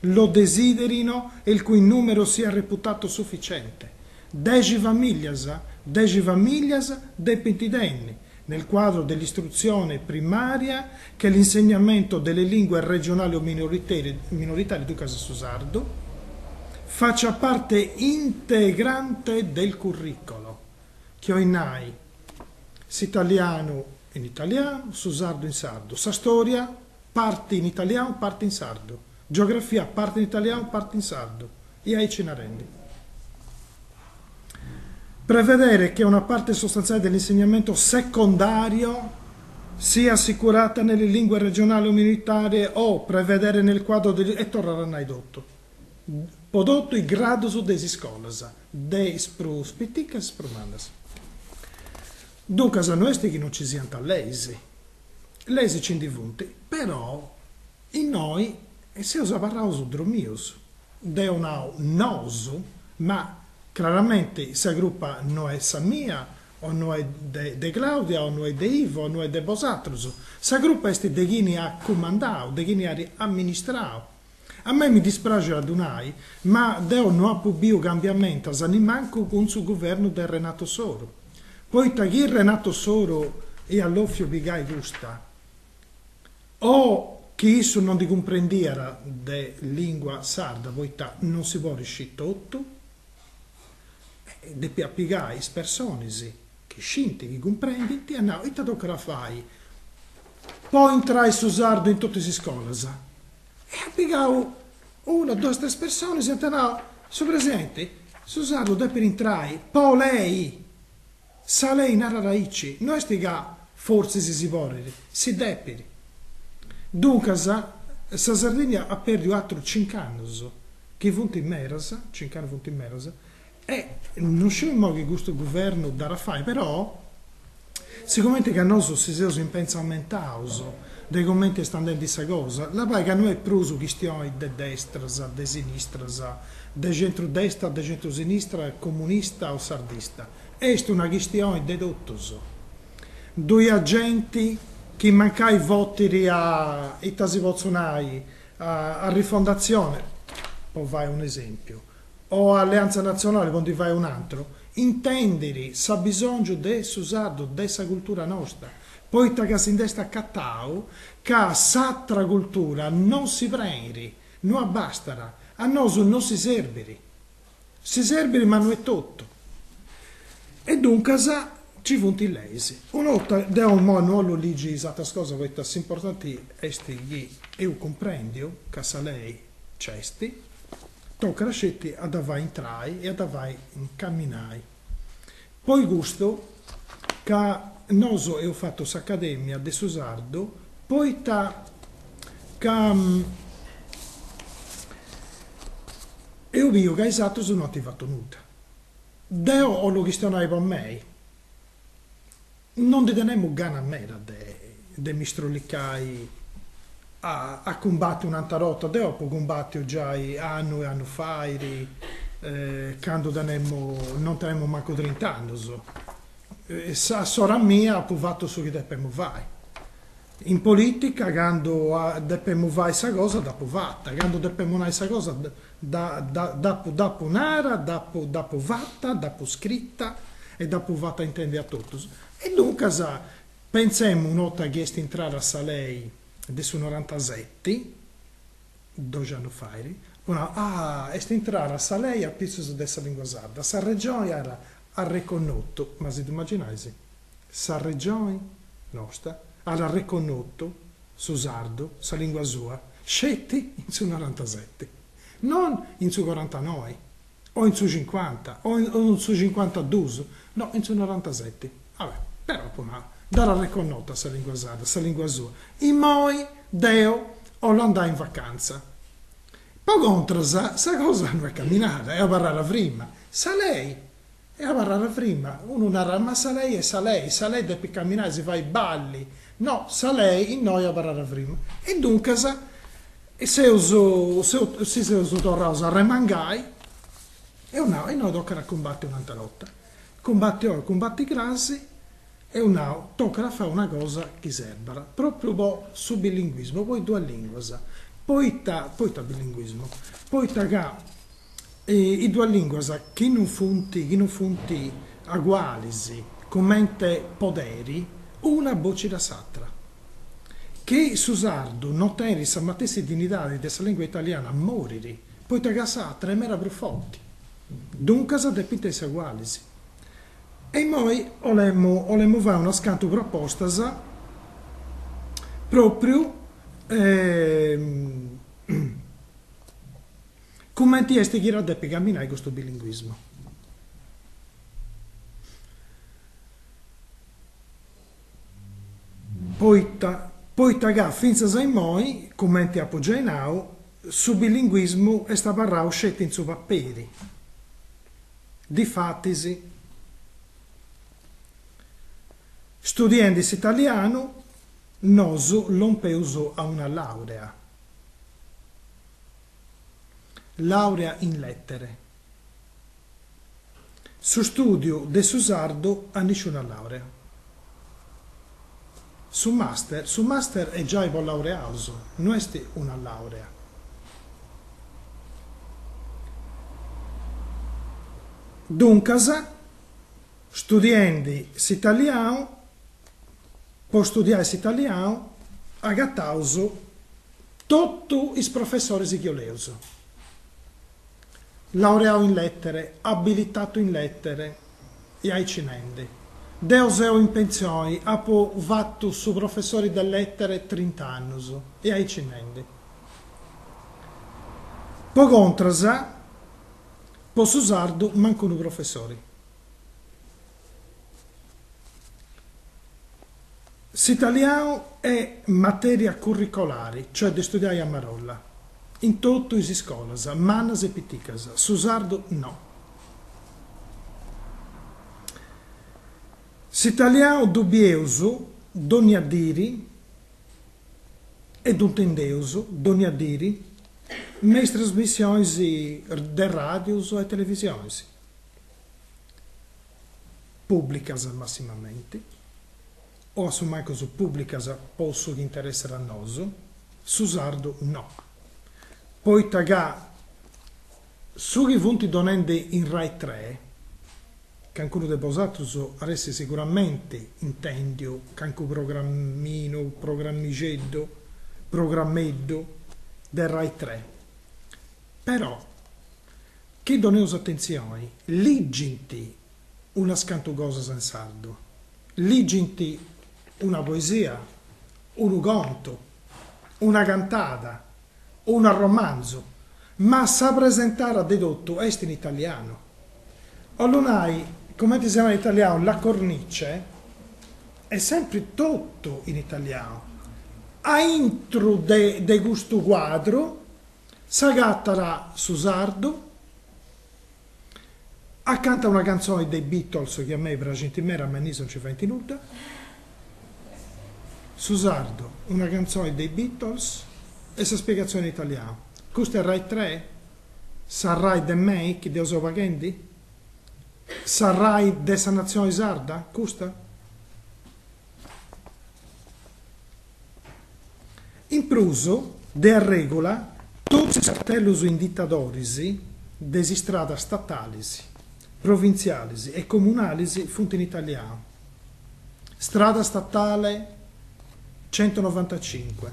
Lo desiderino e il cui numero sia reputato sufficiente. Dexi famìlias, dexi famìlias depint tenni, nel quadro dell'istruzione primaria che l'insegnamento delle lingue regionali o minoritarie, ducas su sardu, faccia parte integrante del curricolo, chi 'oit nai, s'italianu in italianu, su sardu in sardu, sa storia, Parte in italianu, parte in sardu. Geografia, parte in italianu, parte in sardu. E aici narendi. Prevedere che una parte sostanziale dell'insegnamento secondario sia assicurata nelle lingue regionali o minoritarie o prevedere nel quadro degli... e torrant a nai totu. Po totu is gradus de is iscolas, de is prus piticas a is prus mannas. Duncas no est chi no nci siant leis. Leis nci ndi funt, però innoi seus abarraus dromius. Deu nau nosu, ma craramenti sa crupa no est sa mia o no est de de Claudia o no est de Ivo o no est de bosatrus, sa crupa est de chini at cumandau, de chini at amministrau. A mei mi dispraxit a ddu nai, ma deu no apu biu cambiamentus nimancu cun su guvernu de Renato Soru, poita chi Renato Soru iat lòfiu pigai custa, o chi issu no ndi cumprendiat de lìngua sarda, poita non si podit scì totu, depiat pigai is personis. chi scint, chi cumprendint, iat nau, ita tocat a fai po intrai su sardu in totu is iscolas? Iat pigau una, duas, tres personas e iant nau, su presidenti, su sardu depit intrai po lei, sa lei narat aici, no est ca fortzis si si podit, si depit. Duncas, sa Sardigna at pèrdiu atrus cincu annus, chi funt medas, cincu annus funt medas, E non sciu immo chi custu guvernu dd'at a fai, però, sigomente ca nosu si seus impentzamentaus de comente est andendi sa cosa, labai ca no est prus chistioni de destras, de sinistras, de centru-destra, de centru-sinistra, comunista o sardista, est una chistioni de totus. Ddoi at genti chi mancai votit a, ita si potzu nai, a Rifondatzione, po fai un'esempiu, o Alleanza Nazionale po ndi fai un'antru, intèndiri s'abisòngiu de su sardu, de sa cultura nosta, poita ca si nd'est acatau ca s'atra cultura non si preiri, no abbastat, a nosu no si serbiri. Si serbiri ma no est totu. E duncas nci funt is leis. Una 'orta, deu imoi no 'ollu ligi is atras cosas poita ca s'importanti est chi eus cumprendiu ca sa lei nc'est, Tocat sceti a dda fai intrai e a dda fai caminai. Po custu ca nosu eus fatu s'Acadèmia de su Sardu, poita ca eus biu ca is atrus no ant fatu nudda. Deu 'ollu chistionai po mei. Non ndi tenemu gana meda de de mi strollicai a a cumbattiri un'atra 'orta, deu apu cumbattiu giai annu e annu fait, candu tenemu non tenemu mancu trint'annus. S'ora mia apu fattu su chi depemu fai. In polìtica candu depemu fai sa cosa dd'apu fata, candu depemu nai sa cosa dd'apu dd'apu nara, dd'apu dd'apu fata, dd'apu scrita e dd'apu fata intendi a totus. E duncas pentzemu una 'orta chi est intrada sa lei de su norantaseti, doxi annus fait, apu nau, ah est intrada sa lei apitzus de sa lingua sarda, sa Regioni at arreconnotu, ma si ddu imaginais Sa Regioni nosta at arreconnotu su sardu, sa lìngua sua, sceti in su norantaseti, non in su corantanoi, o in su cincuanta, o in su cincuantadus, no, in su norantaseti. Va bene, però apu nau, dd'at arreconnota sa lìngua sarda, sa lìngua sua. Imoi deu 'ollu andai in vacanza. Po contras, sa cosa no est caminada est abarrada frima. Sa lei Est abarrada frima, unu narat ma sa lei est sa lei, sa lei depit caminai e si fai balli, no, sa lei innoi abarrat frima. E duncas seus si seus torraus a arremangai, eus nau, e innoi tocat a cumbati un'atera 'orta, cumbati oi, cumbati cras, eus nau, tocat a fai una cosa chi serbat, pròpriu po su bilinguismu, po is duas lìnguas, poita, poita bilinguismu, poita ca is duas lìnguas chi non funt chi non funt agualis comente poderi una bocit a s'atra, chi su sardu non tenit sa matessi dinnidadi de sa lìngua italiana morit, poita ca s'atra est meda prus forti, duncas depint essi agualis. E imoi 'olemu 'olemu fai unas cantu propostas pròpriu Cumenti est chi depit caminai custu bilinguismu? Poita poita ca fintzas a immoi, cumenti apu giai nau, su bilinguismu est abarrau sceti in su paperi. Difatis, studiendi s'italianu, nosu lompeus a una làurea. Làurea in Lètere. Su stùdiu de su sardu a nisciuna làurea. Su màster, su màster est giai po laureaus, no est una làurea. Duncas, studiendi s'italianu, Po studiai s'italianu agataus totu is professoris chi 'oleus. Laureau in lettere, abilitatu in lettere e aici nendi. Deu seu in pensioni, apu fatu su professori de lettere trint'annus e aici nendi. Po contras, po su sardu mancu unu professori. S'italianu è matèria curricolare, cioè de studiai a marolla, in totu is iscolas, mannas e piticas, su sardu no. S'italianu ddu bieus dònnia diri e ddu intendeus dònnia diri me is trasmissionis de ràdius e televisionis. pùblicas massimamenti, o a su mancus pùblicas po su chi interessat a nosu, su sardu no. Poita ca su chi funt donendi in Rai Tre, cancunu de bosatrus at essi siguramenti intèndiu cancu programminu, programmixeddu, programmeddu de Rai Tre, però, Chi doneus atentzioni, ligint unas cantu cosas in sardu, ligint una poesia, unu contu, una cantada, un'arromanzu, ma sa presentara de totu est in italianu. 'ollu nai, cumenti si nat in italianu, la cornice, est sempri totu in italianu. Aintru de custu cuadru S'agatara su sardu. A canta una cantzoni de i Beatles chi a mei praxint mera ma innoi no nci faint nudda. Su sardu, una cantzoni de i Beatles e sa spiegazzioni in italianu. Custa est Rai tre? Sa Rai de mei chi deu seu paghendi? Sa Rai de sa natzioni sarda custa? In prus, de arrègula, totus is cartellus inditadoris de is istradas statalis, provintzialis e comunalis funt in italianu, Strada statale centonovantacinque,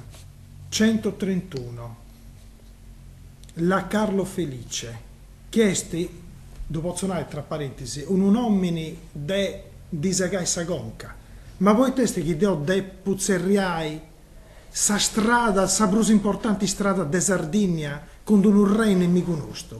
centotrentuno, La Carlo Felice. chi est, ddu potzo nai tra parentis, unu nomini de ddi segai sa conca, ma poita est chi deo depu tzerriai sa strada, sa prus importanti strada de Sardinnia, cun d'unu rei nemigu nostu?